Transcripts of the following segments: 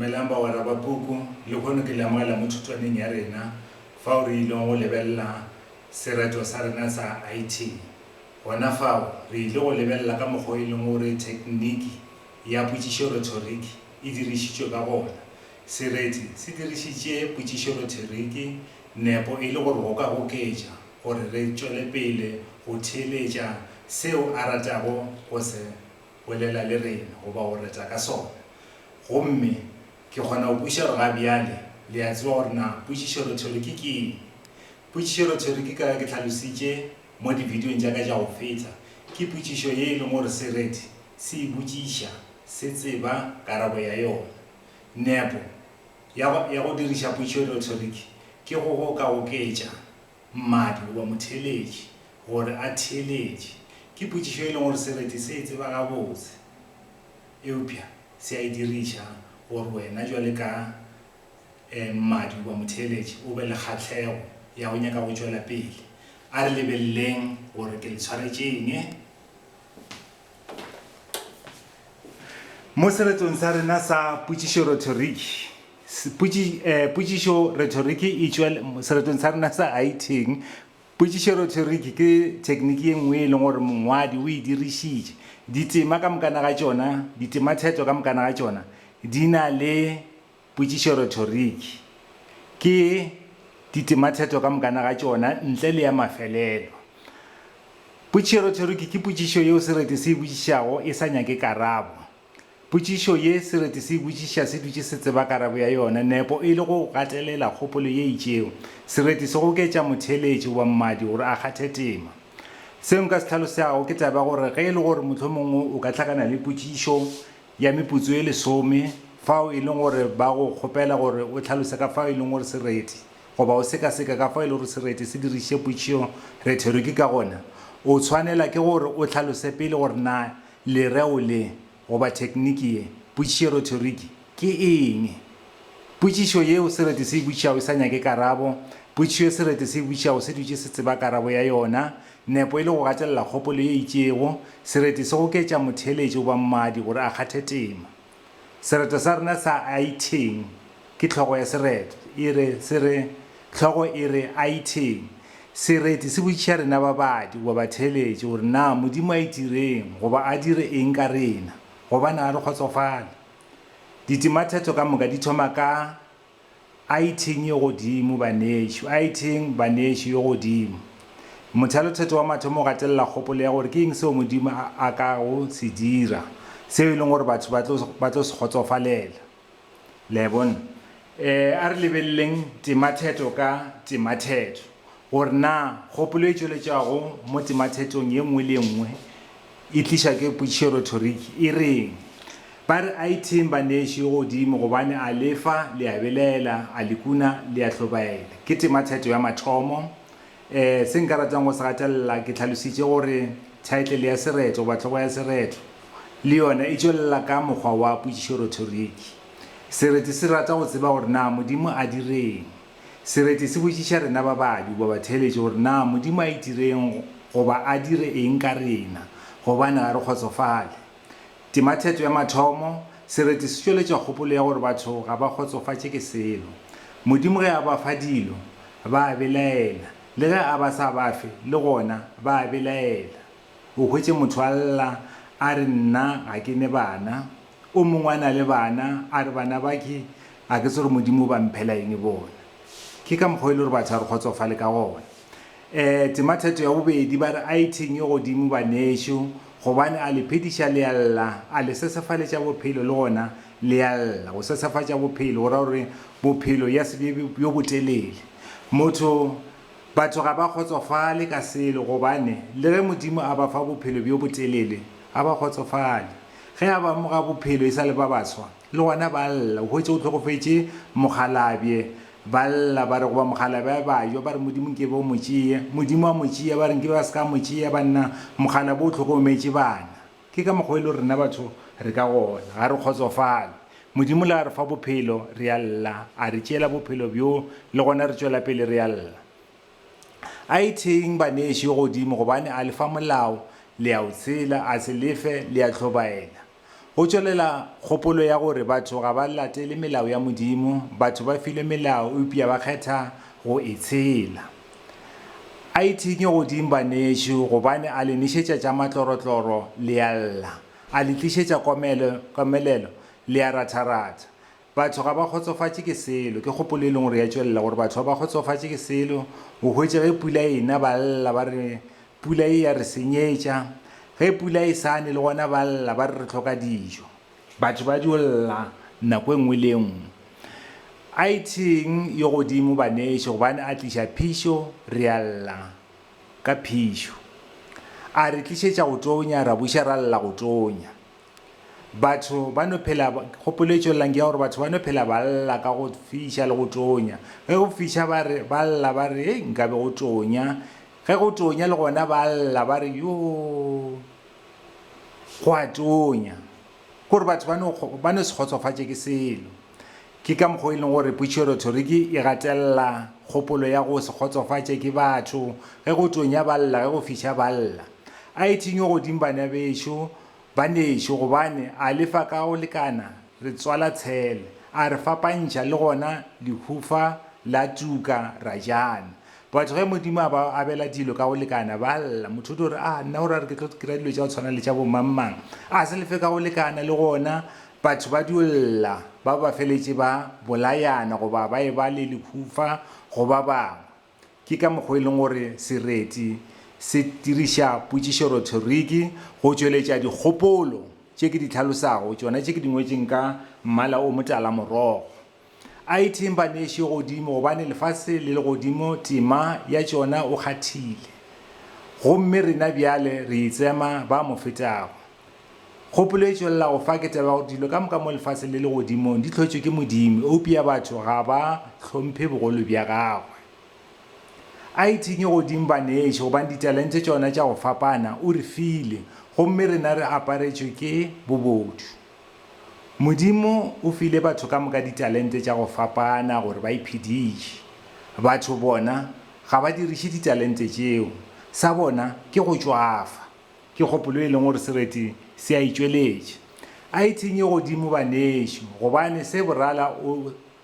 Dumelang bagwera ba puku. Lehono ke lemogela mo thutwaneng ya rena fao re ilego go lebelela sereto sa rena sa IT. Gona fao, re ile go lebelela ka mokgwa o e leng gore thekniki ya potšišorhetoriki e dirišitšwe ka gona. Sereti se dirišitše potšišorhetoriki nepo e le gore go ka goketša gore re tšwele pele go theeletša seo a ratago go se bolela le rena goba go reta ka sona. Gomme ke kgona go kwešiša gore ga bjale le a tseba gore na potšišorothero ke ke'ng. Potšišorothero ke kayo ke hlalositše mo dibidiong tša ka tša go feta, ke potšišo ye e leng gore sereti se e botšiša se tseba karabo ya yona. Nepo ya go diriša potšišorothero ke go go ka oketša Mmadi goba motheeletši gore a theeletše, ke potšišo e leng gore sereti se e tseba gabotse, eupša se a e diriša gore wena bjale ka mmadi goba motheeletši o be le kgahlego ya go nyaka go tšwela pele. A re lebeleleng gore ke le tshwaretše eng. Mo seretong sa rena sa potšišo-rhetoriki, Potši, eh, potšišo, rhetoriki, e tšwa seretong sa rena sa Haitheng. Potšišo, rhetoriki, ke thekniki ye nngwe e leng gore mongwadi o e dirišitše. Ditema ka mokana ga tšona, ditematheto ka mokana ga tšona, di na le potšišo, rhetoriki. Ke ditematheto ka mokana ga tšona, ntle le ya mafelelo. Potšišo, rhetoriki, ke potšišo yeo sereti se e botšišago e sa nyake karabo. Potšišo ye Sereti se e botšiša se dutše se tseba karabo ya yona, nepo e le go gatelela kgopolo ye itšego. Sereti se goketša motheeletši goba mmadi gore a kgathe tema. Seo nka se hlalosago ke taba ya gore ge e le gore mohlomong o ka hlakana le potšišo ya meputso e lesome fao e leng gore ba go kgopela gore o hlalose ka fao e leng gore Sereti goba o sekaseka ka fao e lego gore Sereti se dirišitše potšišo retoriki ka gona, o tshwanela ke gore o hlalose pele gore na Lereo le, goba thekniki ye, potšišerothoriki, ke eng? Potšišo yeo sereti se e botšago e sa nyake karabo, potšišo ye sereti se e botšago se dutše se tseba karabo ya yona, nepo e le go gatelela kgopolo ye itšego, sereti se goketša motheeletši goba mmadi gore a kgathe tema. Sereto sa rena sa Aitheng ke hlogo ya sereto. E re, se re, hlogo e re, Aitheng. Sereti se botšiša rena babadi goba batheeletši gore na Modimo a itireng goba a dire eng ka rena, gobane ga re kgotsofale. Ditimathetho ka moka di thoma ka A itheng yo godimo, banešu. A itheng, banešu, yo godimo. Mothalothetho wa mathomo o gatelela kgopolo ya gore ke eng seo Modimo a, a ka go se dira, seo e leng gore batho ba tlo, ba tlo se kgotsofalela. Le a e bona? E, a re lebeleleng temathetho ka temathetho. Gore na kgopolo e tšweletšwago mo temathetong ye nngwe le ye nngwe e tlišwa ke putšioretoriki e reng? Ba re a itheng baneši yo godimo gobane a le fa, le a belaela, a le kuna, le a hlobaela. Ke temathetho ya mathomo. E, se nka ratang go se gatelela, ke hlalošitše gore thaetlele ya sereto goba hlogo ya sereto le yona e tšwelela ka mokgwa wa putšioretoriki. Sereti se rata go tseba gore na Modimo a di reng. Sereti se botšiša rena ba babi goba theeletše gore na Modimo a itireng goba a dire eng ka rena gobane ga re kgotsofale. Tema theto ya mathomo, Sereti se tšweletša kgopolo ya gore batho ga ba kgotsofatše ke selo. Modimo ge a ba fa dilo, ba a belaela, le ge a ba sa ba fe, le gona ba a belaela. O hwetše motho a lla a re nna ga ke ne bana, O mongwe a na le bana, a re, Bana bake, a ke tsebe gore Modimo o ba mphela eng bona. Ke ka mokgwa o e le gore batho a re kgotsofale ka gona. Um tema theto ya bobedi, ba re, A itheng yo godimo banešo, gobane a le phediša le a lla, a le sesefaletša bophelo le gona le a lla. Go sesefatša bophelo go ra gore bophelo ya se be bjo botelele. Motho, batho ga ba kgotsofale ka selo, gobane le ge Modimo a ba fa bophelo bjo botelele, ga ba kgotsofale. Ge a ba amoga bophelo e sa le ba baswa, le gona ba lla, o hwetše o hlokofetše mokgalabje. Ba lla, ba re, Goba mokgalabje a be a jwa, ba re, Modimo nke be o mo tšea. Modimo a mo tšea, ba re, Nke be ba se ka mo tšea, banna, mokgalabje o hlokometše bana. Ke ka mokgwa e lego rena batho re ka gona. Ga re kgotsofale. Modimo le a re fa bophelo, re a lla, a re tšeela bophelo bjoo, le gona re tšwela pele re a lla. A itheng baneši godimo gobane a le fa molao, le a o tshela, a se le fe, le a hlobaela. Go tšwelela kgopolo ya gore batho ga ba latele melao ya Modimo, batho ba filwe melao eupša ba kgetha go e tshela. A itheng godimo baneši gobane a le nešetša tša matlorotloro, le a lla, a le tlišetša komelelo, le a ratharatha, Batho ga ba kgotsofatše ke selo. Ke kgopolo e leng gore ya tšwelela gore batho ga ba kgotsofatše ke selo. O hwetše ge pula e na ba lla ba re, Pula ye ya re senyetša. Ge pula e sa ne le gona ba lla ba re, Re hloka dijo. Batho ba dio lla nako e nngwe le e nngwe. A e theng yo godimo baneši gobane a tliša phišo, re a lla ka phišo. A re tlišetša go tonya, ra buša ra lla go tonya. Batho ba no phela, kgopolo e tšwelelang ke ya gore batho ba no phela ba lla ka go fiša le go tonya. Ge go fiša ba re, ba lla ba re, hei nkabe go tonya. Ge go tonya le gona ba lla ba re, yoo, go a tonya. Ke gore batho ba no, ba no se kgotsofatše ke selo. Ke ka mokgwa o e leng gore putšerothoriki e gatelela kgopolo ya go se kgotsofatše ke batho ge go tonya ba lla, ge go fiša ba lla. A e thinywe godimo bana bešo, banešo, gobane a le fa ka go lekana re tswala tshele, a re fapantšha le gona lehufa la tuka ra jana. Batho ge Modimo a ba abela dilo ka go lekana ba lla. Motho o tlo re, A nna o ra gore ke tlo dira dilo tša go tshwana le tša bo mang-mang? A se lefe ka go lekana le gona Batho ba dio lla ba ba feletše ba bolayana goba ba e-ba le lehufa go ba bangwe. Ke ka mokgwa e leng gore sereti se diriša potšišorothoriki go tšweletša dikgopolo tše ke di hlalosago, tšona tše ke di ngwetše nka mmala o motala-morogo. A itheng baneši godimo, gobane lefase le legodimo tema ya tšona o kgathile, gomme rena bjale re itsema ba mo fetago. Kgopolo e tšwelela go fa ke taba ya gore dilo ka moka mo lefaseng le legodimong di hlotšwe ke Modimo, eupša batho ga ba hlomphe bogolo bja gagwe. A itheng godimo baneši, gobane ditalente tšona tša go fapana o re file, gomme rena re aparetšwe ke bobodu. Modimo o file batho ka moka ditalente tša go fapana gore ba iphediše. Batho bona ga ba diriše ditalente tšeo. Sa bona ke go tšwafa. Ke kgopolo e leng gore sereti se a e tšweletša. A e thenye godimo banešu gobane se borala o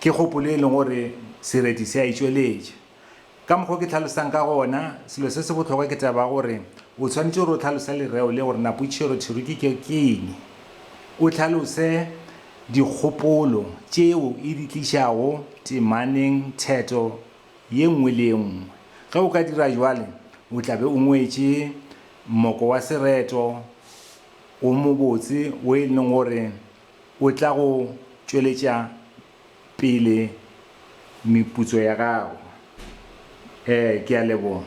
Ke kgopolo e leng gore sereti se a e tšweletša. Ka mokgwa o ke hlalosang ka gona, selo se se bohlokwa ke taba ya gore o swanetše gore o hlalose lereo le gore na putšerotšhero ke eng. O hlalose dikgopolo tšeo e di tlišago temaneng theto ye nngwe le ye nngwe. Ge o ka dira bjalo, o tla be o ngwetše mmoko wa sereto o mobotse wo e leng gore O tla go tšweletša pele meputso ya gago. Ee, ke a leboga.